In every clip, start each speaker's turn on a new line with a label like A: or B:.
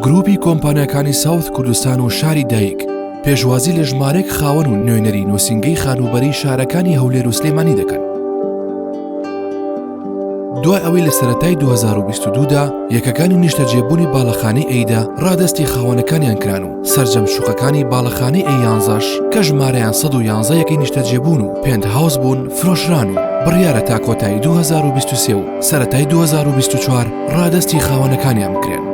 A: گروپی کۆمپانیاکانی ساوت کوردستان و شاری دایک پێشوازی لە ژمارێک خاوەن و نوێنەری نووسنگەی خانوبەری شارەکانی هەولێر و سلێمانی دەکەن دوای ئەوەی لە سەتای 2022دا یەکەکانی نیشتەجێبوونی باڵەخانی ئەیدا ڕادستی خاوەنەکانیان کران و سەرجەم شوقەکانی باڵەخانەی ئێ یانزەش کە ژمارەیان 111 یەکەی نیشتەجێبوون و پێنت هاوس بوون فرۆشران و بڕیارە تا کۆتایی 2023 و سەتای 2024 ڕادستی خاوەنەکانیان بکرێن.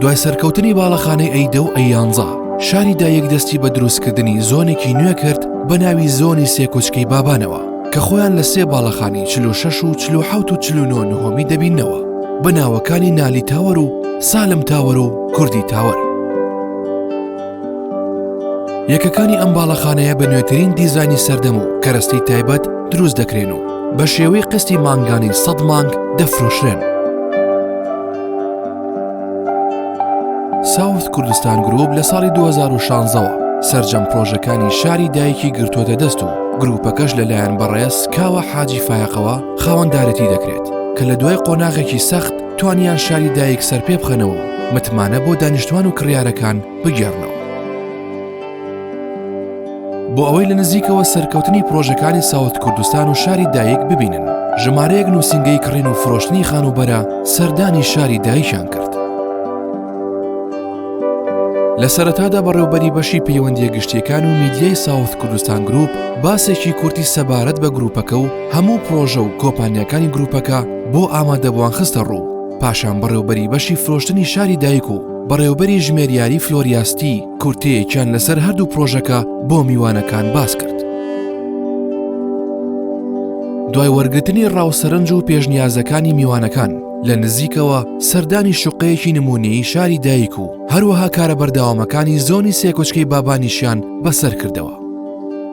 A: دوای سەرکەوتنی باڵەخانەی ئەیدە و ئەیانزا شاری دایەک دەستی بە دروستکردنی زۆنێکی نوێ کرد بە ناوی زۆنی سێکۆچکەی بابانەوە کە خۆیان لە سێ باڵەخانی چل و شەش و چل و حەوت و چل و نۆ نهۆمی دەبیننەوە بە ناوەکانی نالی تاوەر و سالم تاوەر و کوردی تاوەر یەکەکانی ئەم باڵەخانەیە بە نوێترین دیزانی سەردەم و کەرەستەی تایبەت دروست دەکرێن و بە شێوەی قستی مانگانی سەد مانگ دەفرۆشرێن ساوث کوردستان گروپ لە ساڵی 2016 ەوە سرجەم پرۆژەکانی شاری دایکی گرتووەتە دەست و گروپەکەش لەلایەن بەڕێز کاوە حاجی فایقەوە خاوەندارێتی دەکرێت کە لە دوای قۆناغێکی سەخت توانیان شاری دایک سەر پێ بخەنەوە متمانە بۆ دانیشتوان و کڕیارەکان بگێڕنەوە بۆ ئەوەی لە نزیکەوە سەرکەوتنی پرۆژەکانی ساوت کوردستان و شاری دایک ببینن ژمارەیەک نووسنگەی کڕین و فرۆشتنی خانوبەرە سەردانی شاری دایشان کرد لە سەرەتادا بەڕێوبەری بەشی پەیوەندیە گشتیەکان و میدیای ساوت کوردستان گروپ باسێکی کورتی سەبارەت بە گروپەکە و هەموو پرۆژە و کۆپانیەکانی گروپەکە بۆ ئامادەبووان خستە ڕوو پاشان بەڕێوبەری بەشی فرۆشتنی شاری دایک و بەڕێوبەری ژمێریاری فلۆریاستی کورتەیەکیان لەسەر هەردوو پرۆژەکە بۆ میوانەکان باس کرد. دوای وەرگتنی ڕاوسەرنج و پێشنیازەکانی میوانەکان لە نزیکەوە سەردانی شوقەیەکی نمونەی شاری دایک و هەروەها کارە بەرداوامەکانی زۆنی سێکۆچکەی بابانیشیان بەسەر کردەوە.